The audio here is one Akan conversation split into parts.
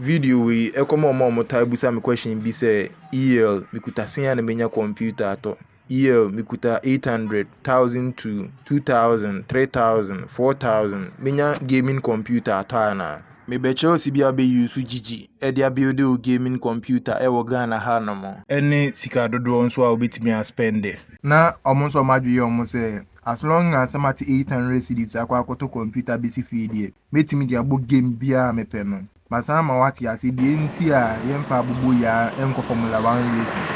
Video wei ɛkɔma wɔn a wɔtaa bisa me question bi sɛ EL mekuta sɛn a na menya computer atɔ EL mekuta 800 1000 to 2000 3000 4000 menya gaming computer atɔ anaa mebɛkyerɛ wo sibia bɛ use gyigyi ɛde abuild wo gaming computer ɛwɔ Ghana ha nom ɛne sika dodoɔ nso a wobɛtumi aspɛnde. Na wɔn nso wɔn adwene yɛ wɔn sɛ as long as sɛ mate 800 cedis akɔ akɔtɔ computer bɛsi fie deɛ Mɛtumi de abɔ game biara a mepɛ no. Masan ama woate aseɛ deɛ nti a yɛmfa aboboyaa nkɔ Formula One racing.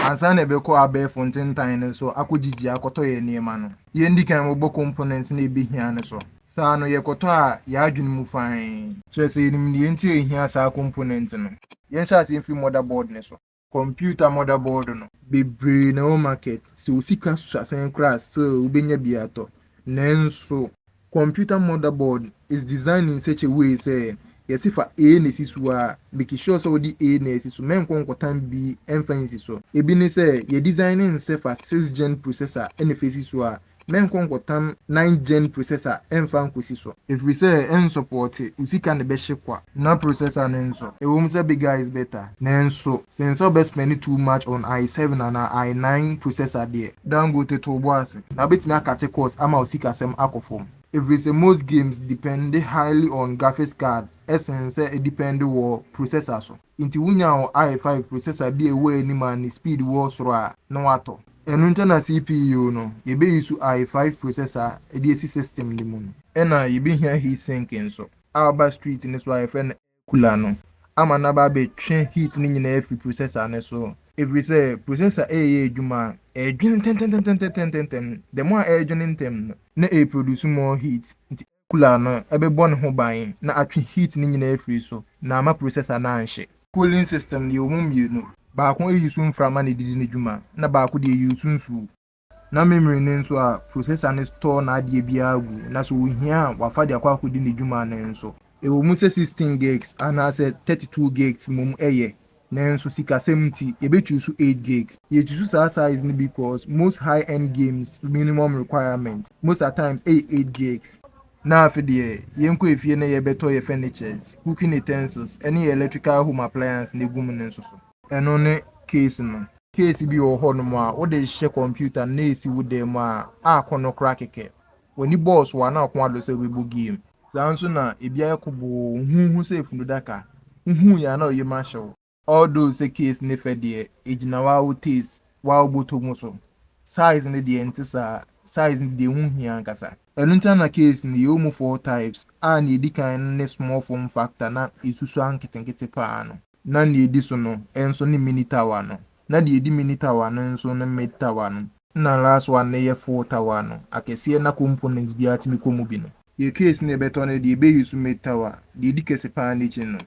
Ansa na yɛbɛkɔ abɛɛfo ntentan no so akɔgyigye akɔtɔ yɛn nneɛma no, yɛndi kan mmobɔ components no a yɛbɛhia no so. Saa no, yɛkɔtɔ a, yɛn adwene mu fann. Kyerɛ sɛ, yɛnim deɛ nti a yɛhia saa component no. Yɛnhyɛ aseɛ mfiri motherboard no so. computer mother board no. Bebree na ɛwɔ market, sɛ wo sika so asen koraa a still wobɛnya bi atɔ. Nanso. Computer mother board is designed in such a way sɛ yɛse fa A na si so a, make sure sɛ wode A na asi so, mɛnkɔ nkɔtan B mfa nsi so. Ebi ne sɛ, yɛ design ne sɛ fa 6 Gen processor na fa si so a, mɛnkɔ nkɔtam nine gen processor ɛmfa nkɔsi so. Ɛfiri sɛ ɛnsɔpɔɔte wo sika na ɛbɛhye kwa. Na processor no nso, ɛwom sɛ bigger is better, nanso sen sɛ wobɛ spend too much on I seven anaa I nine processor deɛ. Dangote to wo bo ase, na wobɛtumi akate cost ama wo sikasɛm akɔ fam. Ɛfiri sɛ most games depend highly on graphics card sen sɛ ɛdepend wɔ processor so. Nti wonya wo I five processor bi a ɛwɔ anim a ne speed wɔ soro a, na woatɔ. Ɛno nti na CPU no, yɛbɛ use I five processor de asi system no mu no. Ɛna yɛbɛhia heat sink nso a woba street no so a yɛfrɛ no air cooler no ama no aba abɛtwe heat no nyinaa afiri processor no so. Ɛfiri sɛ processor ɛreyɛ adwuma a, ɛredwene ntɛntɛntɛntɛntɛntɛntɛm. The more a ɛredwene ntɛm no, na ɛreproduce more heat. Nti. cooler no bɛbɔ ne ho ban na atwe heat no nyinaa afiri so na amma processor no anhye. Cooling system no yɛwɔ mu mmienu, baako yi so mframa na ɛdidi ne dwuma na baako deɛ yi so nsuo. Na memory no nso a processor no store n'adeɛ biara gu na sɛ ɔhia a wafa de akɔ akɔdi ne dwuma no nso. Ɛwɔ mu sɛ sixteen gigs anaasɛ thirty two gigs mmom yɛ, Nanso sikasɛm nti yɛbɛ choose eight gigs. Yɛ choose saa size no because most high end games minimum requirement most at times ɛyɛ eight gigs. Na afe deɛ yɛnkɔ efie na yɛbɛ tɔ yɛ furnitures, cooking utensils ɛne yɛ electrical home appliance na egu mu no nso so. Ɛno ne case no. Case bi wɔ hɔ nom a wode hyɛ computer no na esi wo dan mu a a ko no kora kɛkɛ. W'ani bɔɔ so a na ɔko adɔ sɛ wobɛbɔ game. Saa ara nso na ebi ayɛ koboo, wo ho hu sɛ funu daka, wo hu yɛ a na wo yam ahyɛ wo. All though sɛ case ne fɛ deɛ, ɛgyina wo ara wo taste, wo ara wo bɔtɔ mu so. Size no deɛ ɛnte saa, size no deɛ ho hia ankasa. Ɛno nti na na case no yɛwɔ mu four types a nea ɛdi kan no ne small form factor na ɛsusua nketenkete pa ara no. Na nea ɛdi so no nso ne mini tower no, na deɛ ɛdi mini tower no nso ne mid tower no. Nna last one no yɛ full tower no akɛseɛ na components biara tumi kɔ mu bi no. Yɛ case na yɛbɛtɔ no deɛ yɛbɛ use mid tower deɛ ɛdi kɛse paa no akyi no.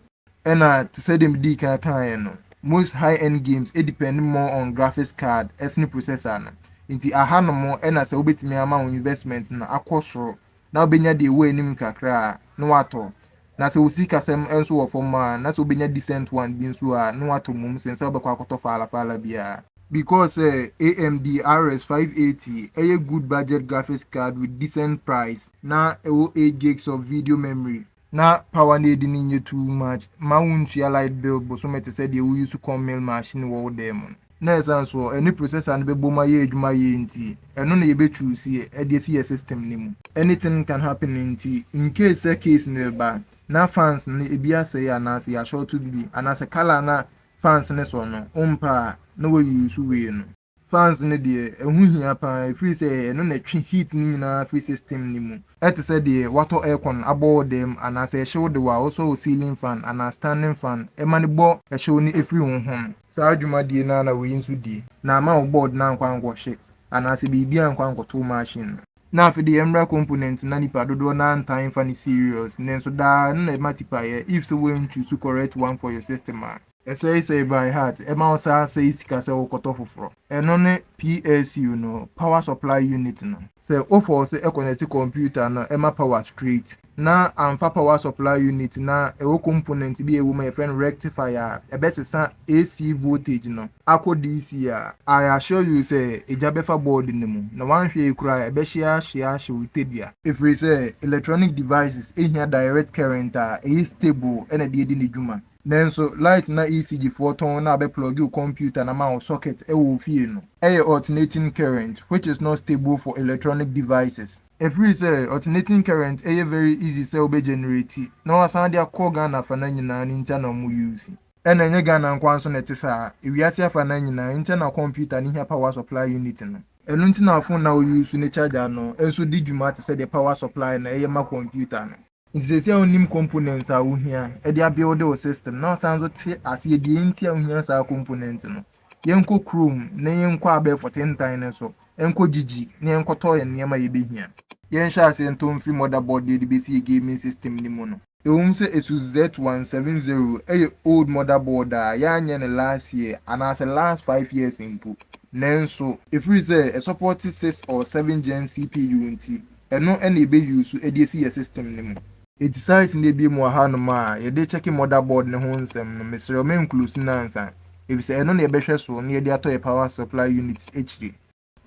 Ɛna te sɛ deɛ medii kan kaeɛ no, most high end games depend more on graphics card sene processor no. Nti aha nom na sɛ wobɛtumi ama wo investment no akɔ soro na wobenya deɛ ɛwɔ anim kakra a, na watɔ. Na sɛ wo sikasɛm nso wɔ fam a, na sɛ wobenya decent one bi nso a, na watɔ mmom sen sɛ wobɛkɔ akɔtɔ faala faala biara. Because sɛ AMD RS five eighty ɛyɛ good budget graphics card with decent price na ɛwɔ eight gigs of video memory Na paw a na edi no nyɛ too much mma wuntua light bill bosome te sɛ deɛ wo use corn mill machine wɔ wo dan mu no. Na ɛsan so hɔ, ɛne processor no bɛbom ayɛ adwuma yie nti, ɛno na yɛbɛ choose de asi yɛ system no mu. Anything can happen nti, in case sɛ case no reba na fans no ebi asɛe anaasɛ yɛ ashorto biribi anaasɛ colour a na fans no sɔ no wompɛ a, na wa use wei no. Fans no deɛ ɛho hia paa ɛfiri sɛ ɛno na ɛtwe heat no nyinaa firi system no mu. Ɛte sɛ deɛ woatɔ aircon abɔ wo dan mu anaa sɛ ɛhye wo de wo a wosɔ wo ceiling fan anaa standing fan ma no bɔ ɛhyew no firi wo ho no. Saa dwumadie no ara na wei nso di. Na ama wo board no ankɔ ankɔhye anaa sɛ biribi ankɔ ankɔto wo machine no. Na afe deɛ ɛmmra component na nipa dodoɔ no ara ntaa mfa no serious nanso daa ɛno na ɛma tipaeɛ if sɛ woan choose correct one for your system a. Ɛsɛesɛe by heart ɛma wo saa sɛe sika sɛ wo kɔtɔ foforɔ. Ɛno ne PSU no, power supply unit no. Sɛ wo force ɛconnect computer no ɛma power straight na amfa power supply unit na ɛwɔ component bi a ɛwɔ mu a yɛfrɛ no rectifier a ɛbɛsesa AC voltage no akɔ DC a, I assure you sɛ egya bɛfa board no mu na wanhwɛ yie koraa a ɛbɛhye ahye ahye wo tadua. Ɛfiri sɛ electronic devices hia direct current a ɛyɛ stable na ɛde adi ne dwuma. Nanso light na ECG foɔ tɔn na abɛ plug wo computer na ama wo socket wɔ wo fie no. Ɛyɛ alternating current which is not stable for electronic devices. Ɛfiri sɛ alternating current ɛyɛ very easy sɛ wo bɛ generate na wasan de akɔ Ghana afana nyinaa no ntia na wɔn use. Ɛna ɛnyɛ Ghana nkoaa nso na ɛte saa, ewiase afana nyinaa ntia na computer no hia power supply unit no. Ɛno nti na phone na wo use ne charger no nso di dwuma te sɛ deɛ power supply na ɛyɛ ma computer no. Nti sɛsi a wonim components a wohia de abuild wo system na wosan nso te aseɛ deɛ nti a wohia saa component no. Yɛnkɔ kurom na yɛnkɔ abɛɛfo tentan no so nkɔ gyigyi na yɛnkɔtɔ yɛn nneɛma a yɛbɛhia. Yɛnhyɛ aseɛ ntɔ mfiri motherboard deɛ yɛde bɛsi yɛn gaming system no mu no. Ɛwom sɛ Asus Z170 yɛ old motherboard a yɛanyɛ no last year anaasɛ last five years mpo nanso, Ɛfiri sɛ ɛsɔpɔɔte six or seven gen CPU nti, Ɛno na yɛbɛ use so ɛde asi yɛ system no mu. Eti sites no abiem wɔ ha nom a yɛde check mother board no ho nsɛm no mesrɛ wo mɛ nclose no ansa efisɛ ɛno na yɛbɛhwɛ so na yɛde atɔ yɛ power supply unit akyire.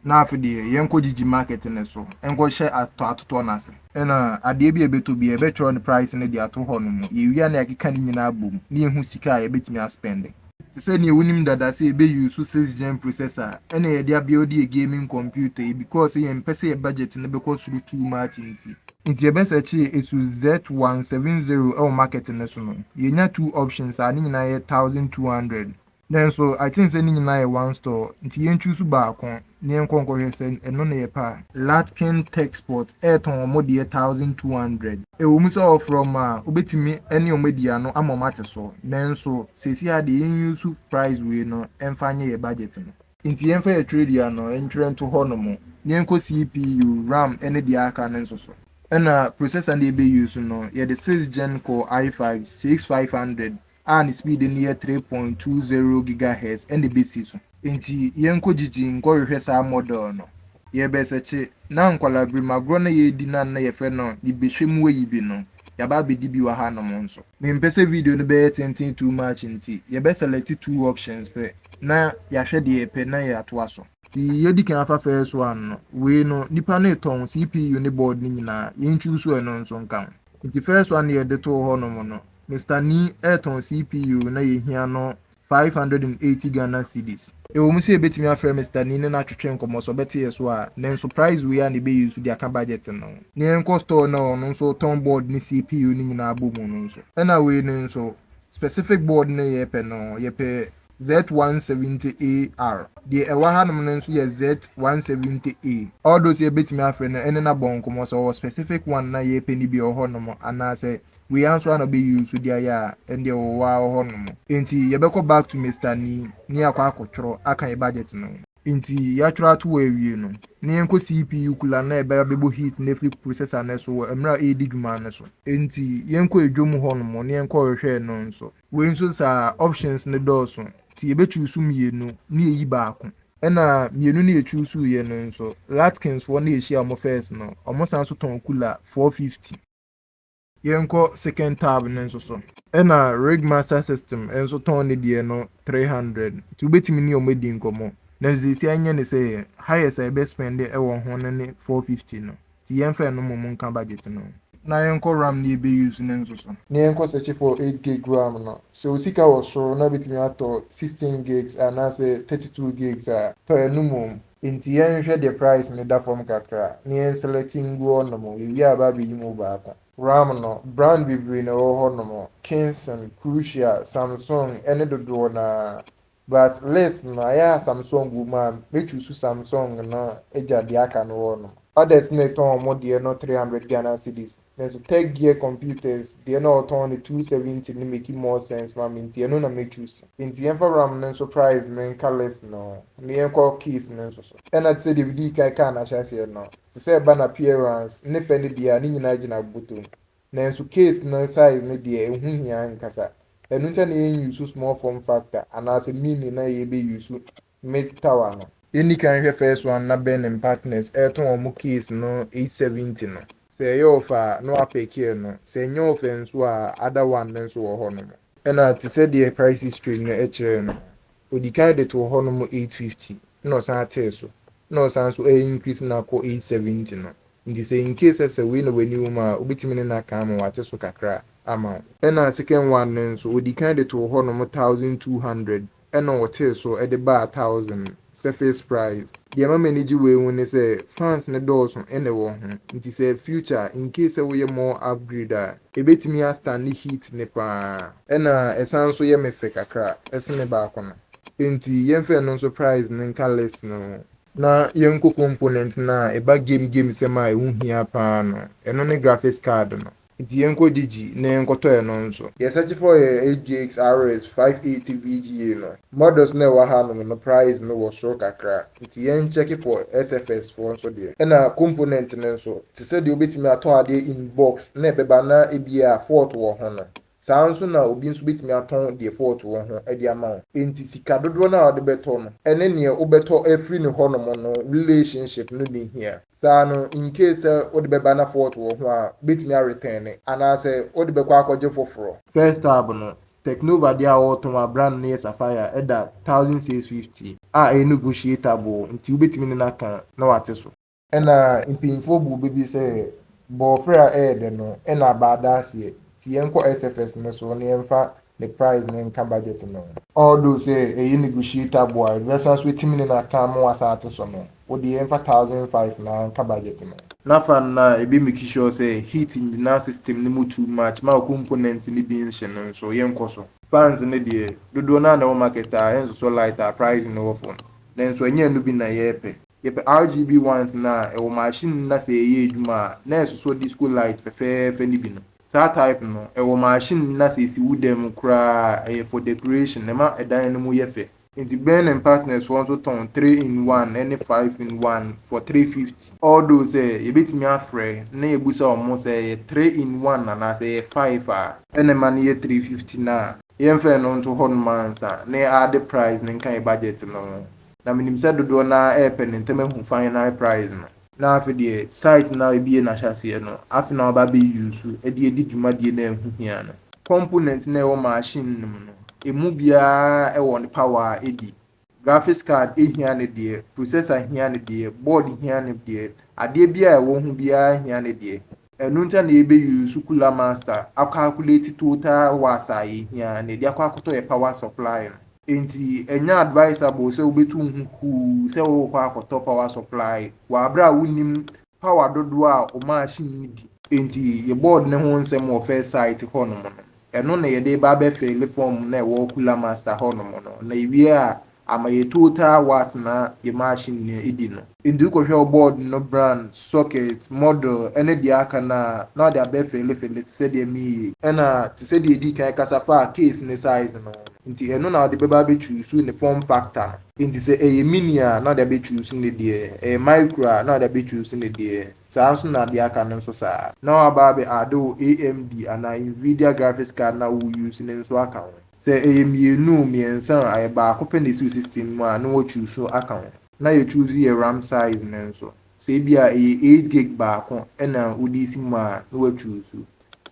Na afe deɛ yɛn kɔ gyigyi market no so nkɔ hyɛ atɔ atotoɔ no ase. Ɛna adeɛ bi a yɛbɛtɔ biara yɛbɛtwerɛ ne price no de ato hɔ nom, yɛwie a na yɛakeka ne nyinaa abom na yɛhu sika a yɛbɛtumi aspɛnde. Te sɛ nea wunim dada sɛ yɛbɛ use six gen processor a ɛna yɛde abuild yɛ gaming computer yi because sɛ yɛmpɛ sɛ yɛ budget no bɛkɔ soro too much nti. Nti yɛbɛ searchee Asus Z one seven zero ɛwɔ market no so no yɛnya two options a ne nyinaa yɛ thousand two hundred. Nanso I think sɛ ne nyinaa yɛ one store nti yɛn choose baako Ne yɛnkɔ nkɔhwɛ sɛ ɛno na yɛpɛ a. Latkin Texport retɔn wɔn deɛ thousand two hundred. Ɛwɔ mu sɛ ɔfrɛ wɔn a, wobɛtumi ne wɔn adi ano ama wɔn ate so, nanso seesei ara deɛ yɛn use price wei no mfa nyɛ yɛn budget no. Nti yɛmfa yɛn twerɛdua no ntwerɛ nto hɔ nom, na yɛnkɔ CPU, ram ne deɛ aka no nso so. Ɛna processor no deɛ yɛbɛ use no, yɛde six gen kɔɔ I five, six five hundred, a ne speed no yɛ three point two zero gigahertz na ebesi so. Enti yɛnkɔ gyigyi nkɔhwehwɛ saa model no. Yɛrebɛsɛkye na nkwallaberem agorɔ no a yɛredi no a na yɛfrɛ no Yebehwɛ mu ayi bi no, yɛaba abɛdi bi wɔ hanom nso. Mempɛ sɛ video no bɛyɛ tenten too much nti, yɛbɛ select two options pɛ na yɛahwɛ deɛ yɛpɛ na yɛatoa so. Deɛ yɛadi kan afa first one no, wei no nnipa no retɔn CPU ne board no nyinaa, yɛnchuuso ɛno nso nka ho. Enti first one no yɛde too hɔnom no, Mister Nii retɔn CPU na yehia no five hundred and eighty Ghana cedis. Ɛwɔ mu sɛ yɛbɛtumi afrɛ Mister Nii ne no atwetwe nkɔmmɔ sɛ ɔbɛte yɛn so a, nanso price wei ara na ɛbɛyɛ nsu de aka budget no. Na yɛnkɔ store no a ɔno nso ɔtɔn board ne CPU no nyinaa bɔ mu no nso. Ɛna wei no nso, specific board no a yɛpɛ no, yɛpɛ Z170AR. Deɛ ɛwɔ hanom no nso yɛ Z170A. All those yɛbɛtumi afrɛ no ɛne no abɔ nkɔmmɔ sɛ ɔwɔ specific one na yɛpɛ no bi wɔ hɔnom anaa sɛ wei ara nso ara na ɔbɛ use de ayɛ a ɛndeɛ ɔwɔ hɔ ara wɔ hɔnom. Enti yɛbɛkɔ back to Mister Ni ne yɛakɔ akɔtwerɛ aka yɛn budget no. Enti yɛatwerɛ ato hɔ awie no, na yɛnkɔ CPU cooler no na yɛbɛ abɛbɔ heat no afiri processor no so wɔ mmerɛ a ɛredi dwuma no so. Enti yɛnkɔ edwom hɔnom ne yɛnkɔhwehwɛɛ no nso. Wei nso saa, options no dɔɔso nti yɛbɛchuusu mmienu na yɛyi baako. Ɛna mmienu no yɛchuusuuiɛ no nso, Latkins foɔ na yɛhyia wɔn first no, wɔn san nso tɔn cooler four fifty. Yɛnkɔ second tab no nso so. Ɛna Rigmaster System nso tɔn ne deɛ no three hundred nti wobɛtumi ne wɔn adi nkɔmmɔ. Nanso seesei ɛnyɛ ne sɛ yɛn, highest a yɛbɛ spend wɔ ho no ne four fifty no. Nti yɛnfa ɛno mmom nka budget no ho. Na yɛnkɔ ram na yɛbɛ use no nso so. Na yɛnkɔ search for eight gig ram no. Sɛ wo sika wɔ soro na wobɛtumi atɔ sixteen gigs anaasɛ thirty two gigs a, tɔ ɛno mmom. Nti yɛnhwɛ deɛ price no da fam kakra na yɛn select ngu hɔ nom, yɛwie a aba abɛyi mu baako. Ram no, brand bebree na ɛwɔ hɔ nom, Kingston, Crucial, Samsung, ɛne dodoɔ no ara. But list no ayɛ a Samsung wɔ mu a mɛ choose Samsung no agya deɛ aka no wɔ nom. Others na ɛtɔn wɔn deɛ no three hundred Ghana cedis nanso Tech Gear Computers deɛ na ɔtɔn no two seventy no make more sense ma me nti ɛno na mɛ choose. Nti yɛnfa ram no nso price no nka list no ho na yɛnkɔ case no nso so. Ɛna te sɛ deɛ medii kan kaa no ahyɛaseɛ no, te sɛ ɛba n'appearance ne fɛ ne deɛ a ne nyinaa gyina botom. Nanso case no size no deɛ ɛho hia ankasa. Ɛno nti na yɛn use small form factor anaasɛ mini na yɛbɛ use mid tower no. Yɛn di kan nhwɛ first one na Ben and partners ɛretɔn wɔn case no eight seventy no. Sɛ ɛyɛ off a na wa pick no, sɛ ɛnyɛ off nso a other one no nso wɔ hɔ nom. Ɛna te sɛ deɛ price history no ɛkyerɛ no, ɔdi kan de too hɔ nom eight fifty na ɔsan tee so na ɔsan nso ɛɛ increase no akɔ eight seventy no. Nti sɛ in case sɛ wei na w'ani wɔ mu a, wobɛtumi ne no aka ama wate so kakra ama wo. Ɛna second one no nso, wɔdii kan de too hɔ nom thousand two hundred, ɛna wɔtee so de baa thousand, surface price. Deɛ ɛma m'ani gye wei ho ne sɛ, fans no dɔɔso ɛna ɛwɔ ho, nti sɛ future, in case sɛ woyɛ more upgrade a, ɛbɛtumi a stande heat no pa ara. Ɛna ɛsan nso yɛ me fɛ kakra sene baako no, nti yɛmfa ɛno nso price no nka list no ho, Na yɛn nko component no a ɛba game game sɛm a ɛho hia paa no, ɛno ne graphics card no. Nti yɛnkɔ gyigyi na yɛnkɔtɔ ɛno nso. Yɛn search for yɛ AGX RS 580 VGA no. Models no a ɛwɔ hanom no price no wɔ soro kakra, nti yɛn check for SFS foɔ nso deɛ. Ɛna component no nso, te sɛ deɛ wobɛtumi atɔ adeɛ in box na ɛbɛba na ebia fault wɔ ho no, Saa ara nso na obi nso betumi atɔn default wɔ ho de ama wo. Enti sika dodoɔ no a wode bɛtɔ no ne neɛ wobɛtɔ afiri ne hɔnom no relationship no nni hia. Saa no, in case sɛ wode bɛba na fault wɔ ho a, wobɛtumi a retɛne anaasɛ wode bɛkɔ akɔgye foforɔ. First tab no, Teknova deɛ a wɔretɔn a brand no yɛ Sapphire ɛda thousand six fifty a ɛyɛ negotiatable nti wobɛtumi ne no atɔn na wate so. Nna mpanyimfo bu bɛ bi sɛ bɔɔfer a ɛyɛ dɛ no, nna abaa daaseɛ, ntsi yɛnkɔ SFS no so na yɛmfa ne prize no nka budget no ho. Although sɛ ɛyɛ negotiatable a, bɛsan so etsim ne na kã mo asaatse so no, wo de yɛmfa thousand five na nka budget no. Nafa no na ebe make sure sɛ heat nngyina system no mu too much ma components no bi nnhye no nso, yɛnkɔ so. Fans no deɛ, dodoɔ no ara na ɛwɔ market a ɛnsosɔ light a price no wɔ fam, nanso ɛnyɛ ɛno bi na yɛrepɛ. Yɛpɛ RGB ones no a ɛwɔ machine no na sɛ ɛyɛ adwuma a na ɛsosɔ disco light fɛfɛɛfɛ no bi no. Saa type no ɛwɔ machine no na sɛ ɛsi wo dan mu koraa a ɛyɛ for decoration, ɛma ɛdan no mu yɛ fɛ. Nti Ben and Partners foɔ nso tɔn three in one ɛne five in one for three fifty. Although sɛ yɛbɛtumi afrɛ na yɛbusa wɔn sɛ ɛyɛ three in one anaa sɛ ɛyɛ five a. Ɛna ɛma no yɛ three fifty no a. Yɛmfa ɛno nto hɔ nom ansa na yɛ add price no nka yɛ budget no ho. Na menim sɛ dodoɔ no ara repɛ ne ntɛm ahu final prize no. Na afe deɛ site no a wabie no ahyɛaseɛ no, afe no a waba abɛ use de adi dwumadie no a ɛho hia no. Component no a ɛwɔ machine no mu no, ɛmu biara wɔ ne power a ɛdi. Graphics card hia ne deɛ, processor hia ne deɛ, board hia ne deɛ, adeɛ biara a ɛwɔ ho biara hia ne deɛ. Ɛno nti a na yɛbɛ use Sukula Master a calculate total was a yɛhia na yɛde akɔ akɔtɔ yɛ power supply no. Enti ɛnyɛ advisable sɛ wobɛtu wo ho kuu sɛ worekɔ akɔtɔ power supply wɔ aberɛ a wonnim power dodoɔ a wo machine no di. Enti yɛ board no ho nsɛm wɔ first site hɔnom no, Ɛno na yɛde reba abɛfeele fɔɔm no a ɛwɔ Kula Master hɔnom no, na yɛwie a, ama yɛ total was na yɛ machine no adi no. Enti wokɔhwɛ wo board no brand, socket, model ne deɛ aka no a, na wɔde abɛfeele feele te sɛ deɛ meyie. Ɛna te sɛ deɛ yɛdii kan kasa faa case ne size no ho no, nti ɛno na wɔde bɛba abɛchuusu ne form factor no. Enti sɛ ɛyɛ mini a, na wɔde abɛchuusu ne deɛ, ɛyɛ micro a, na wɔde abɛchuusu ne deɛ. Saa ara nso na deɛ aka no nso saa. Na waba abɛ add wo AMD anaa Nvidia graphics card no a wo use no nso aka ho. Sɛ ɛyɛ mmienu o, mmiɛnsa o, ayɛ baako pɛ na ɛsi wo system mu a, na wɔ choose no aka ho. Na yɛ choose yɛ ram size no nso. Sɛ ebia ɛyɛ eight gig baako na wode resi mu a, na wɔ choose.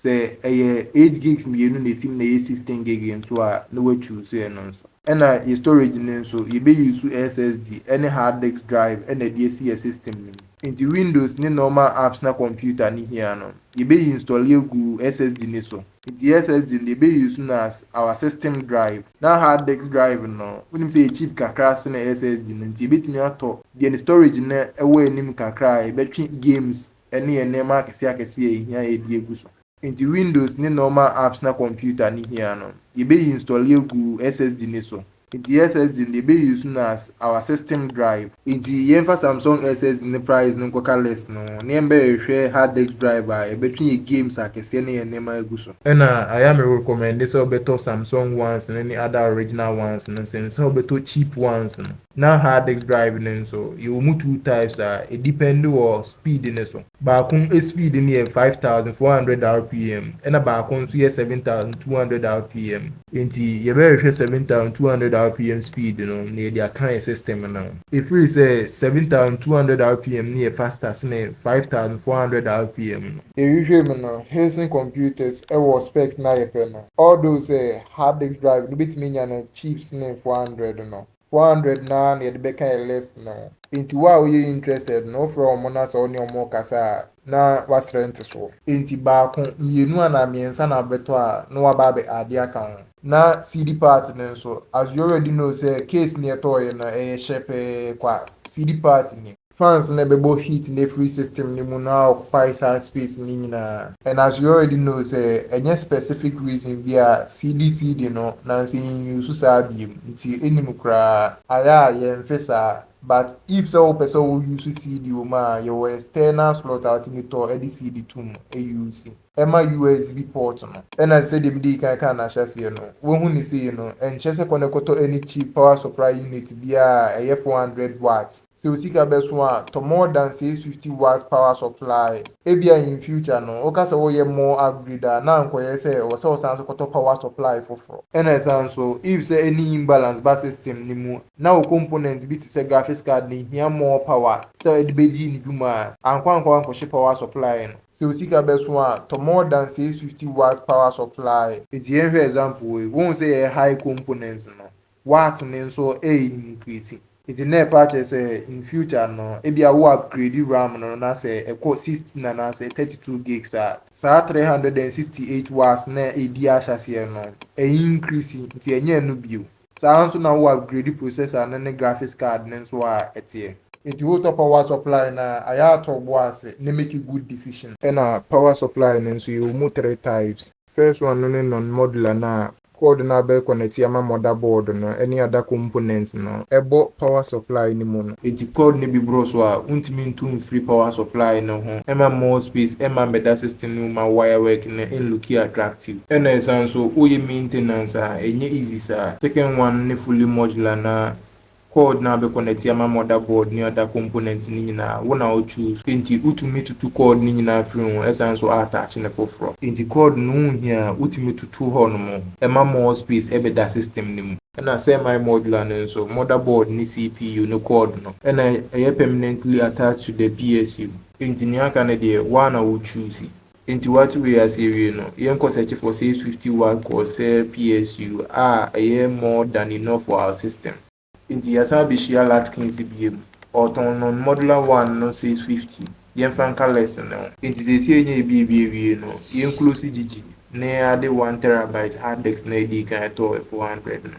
sɛ ɛyɛ eight gigs mmienu na esim na ɛyɛ sixteen gig nso a na wa choose ɛno nso. Ɛna yɛ storage no nso yɛ bɛ use SSD ɛne hard disk drive ɛna ɛde asi yɛ system no mu. Nti windows ne normal apps na computer no hia no yɛ bɛ install agu SSD no so. Nti SSD no yɛ bɛ use no as our system drive na hard disk drive no wonim sɛ ɛyɛ cheap kakra sene SSD no nti yɛ bɛtumi atɔ deɛ ne storage no ɛwɔ anim kakra a yɛ bɛtwe games ne yɛn nneɛma akɛseɛ akɛseɛ a ɛhia yɛ de agu so. Nti Windows ne normal apps na computer no hia no, yɛbɛ install agu SSD no so. Nti SSD no yɛbɛ use no as our system drive. Nti yɛmfa Samsung SSD no price no nkɔka list no ho na yɛmbɛhwehwɛ hard disk drive a yɛbɛtwe yɛn games akɛseɛ ne yɛn nneɛma agu so. Ɛna ayɛ a me recommende sɛ wobɛtɔ Samsung ones no ne other original ones no sen sɛ wobɛtɔ cheap ones no. Na hard disk drive no nso, yɛwɔ mu two types a ɛdepɛnde wɔ speed no so. Baako speed no yɛ five thousand four hundred rpm ɛna baako nso yɛ seven thousand two hundred rpm. Enti yɛbɛhwehwɛ seven thousand two hundred rpm speed no na yɛde aka yɛn system no ho. Ɛfiri sɛ seven thousand two hundred rpm no yɛ faster sene five thousand four hundred rpm no. Yɛhwehwɛɛ mu no, Heisen computers wɔ specs no a yɛpɛ no, although sɛ hard disk drive no bɛtumi anya no cheap sene four hundred no. Four hundred no ara na yɛde bɛka yɛ list no ho. Enti wo a woyɛ interested no, wofrɛ wɔn na sɛ wo ne wɔn rekasa a, na woasrɛ ntesoɔ. Enti baako, mmienu anaa mmiɛnsa na wobɛtɔ a, na woaba abɛ add aka ho. Na seedy part no nso, as you already know sɛ case no yɛtɔeɛ no, ɛyɛ hyɛ pɛɛ kwa, seedy part nnim. Fans na ɛbɛbɔ heat no afiri system no mu na occupy saa space no nyinaa. And as we already know sɛ ɛnyɛ specific reason bi a CDC de no na nsɛ yɛn use saa biom nti ɛnni mu koraa. Ayɛ a yɛnfe saa but if sɛ wopɛ sɛ wo use CD wɔ mu a yɛwɔ external slot a wotumi tɔ de CD to mu use ɛma USB port no. Ɛna sɛdeɛ medii kan kaa no ahyɛaseɛ no woahu no sei no ɛnkyerɛ sɛ kɔ na kɔtɔ any cheap power supply unit biara a ɛyɛ four hundred watts Sɛ wo sika bɛso a, tɔ more than 650 watt power supply. Ebia in future no, woka sɛ woreyɛ more upgrade a, na ankɔyɛ sɛ ɛwɔ sɛ wosan nso kɔtɔ power supply foforɔ. Ɛna ɛsan nso, if sɛ any imbalance ba system no mu, na wo component bi te sɛ graphics card no hia more power sɛ ɛde bɛdi ne dwuma a, ankɔ ankɔ ankɔhye power supply no. Sɛ wo sika bɛso a, tɔ more than 650 watt power supply. Nti yɛnhwɛ example wei. Wohu sɛ yɛyɛ high components no, W'ase no nso ɛ increase. Nti na ɛpa kyerɛ sɛ in future no ebia wo upgrade ram no na sɛ ɛkɔ sixteen anaasɛ thirty two gigs a, saa three hundred and sixty eight w'ase no a edi ahyɛaseɛ no ɛ increase nti ɛnyɛ ɛno bio. Saa ara nso na wo upgrade processor no ne graphics card no nso a ɛteɛ. Nti wo tɔ power supply no a, ayɛ a tɔ w'ase na make good decision. Ɛna power supply no nso yɛwɔ mu three types. First one no ne non modular no a cord no a bɛ connect ama mother board no ne other components no bɔ power supply no mu no. Enti cord no bi boro so a wontumi ntu mfiri power supply no ho ma more space mma mmɛda system no mu ma wire work no nlooki attractive. Ɛna ɛsan nso woyɛ maintenance a ɛnyɛ easy saa. Second one no ne fully modular no a Code no a bɛkɔ nɛte ama mother board ne other components no nyinaa wo na wo choose. Enti wo tumi tutu code no nyinaa firi ho ɛsan nso attach no foforɔ. Enti code no wo hia a wo tumi tutu hɔ nom ɛma more space ɛbɛ da system no mu. Ɛna semi modular no nso mother board ne CPU no code no ɛna ɛyɛ permanently attached to the PSU. Enti nea aka no deɛ wo a na wo choose. Enti woate wei ase awie no, yɛnkɔ search for says fifty watt kɔɔ sɛ PSU a ɛyɛ more than enough for our system. Enti yɛasan abɛhyia Latkins biom. Ɔretɔn non modular one no says fifty. Yɛmfa nka list no. Enti seesei yɛanya ebiebie awie no, yɛnclose gyigyi ne ade one terabyte hard disk no a edii kan yɛtɔɔ four hundred no.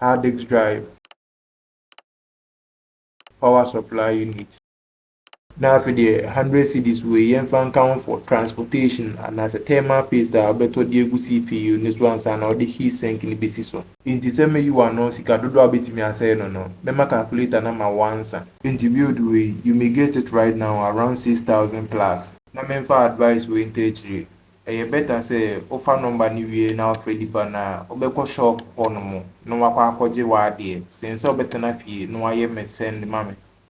hard disk drive, power supply unit. Na afei deɛ hundred cedis wei yɛmfa nka ho for transportation anaasɛ thermal paste a wobɛtɔ de agu CPU ne so ansa na wode heat sink no bɛsi so. Enti sɛ meyi wo ano sika dodoɔ a wobɛtumi asɛe no no, mɛma calculator no ama wo ansa. Enti build wei, you may get it right now around six thousand plus. Na memfa advice wei ntaa akyire, Ɛyɛ better sɛ wofa number no wie na wofrɛ nipa no a, wobɛkɔ shop hɔ nom na wakɔ akɔgye w'adeɛ sen sɛ wobɛtena fie na wayɛ me send ma me.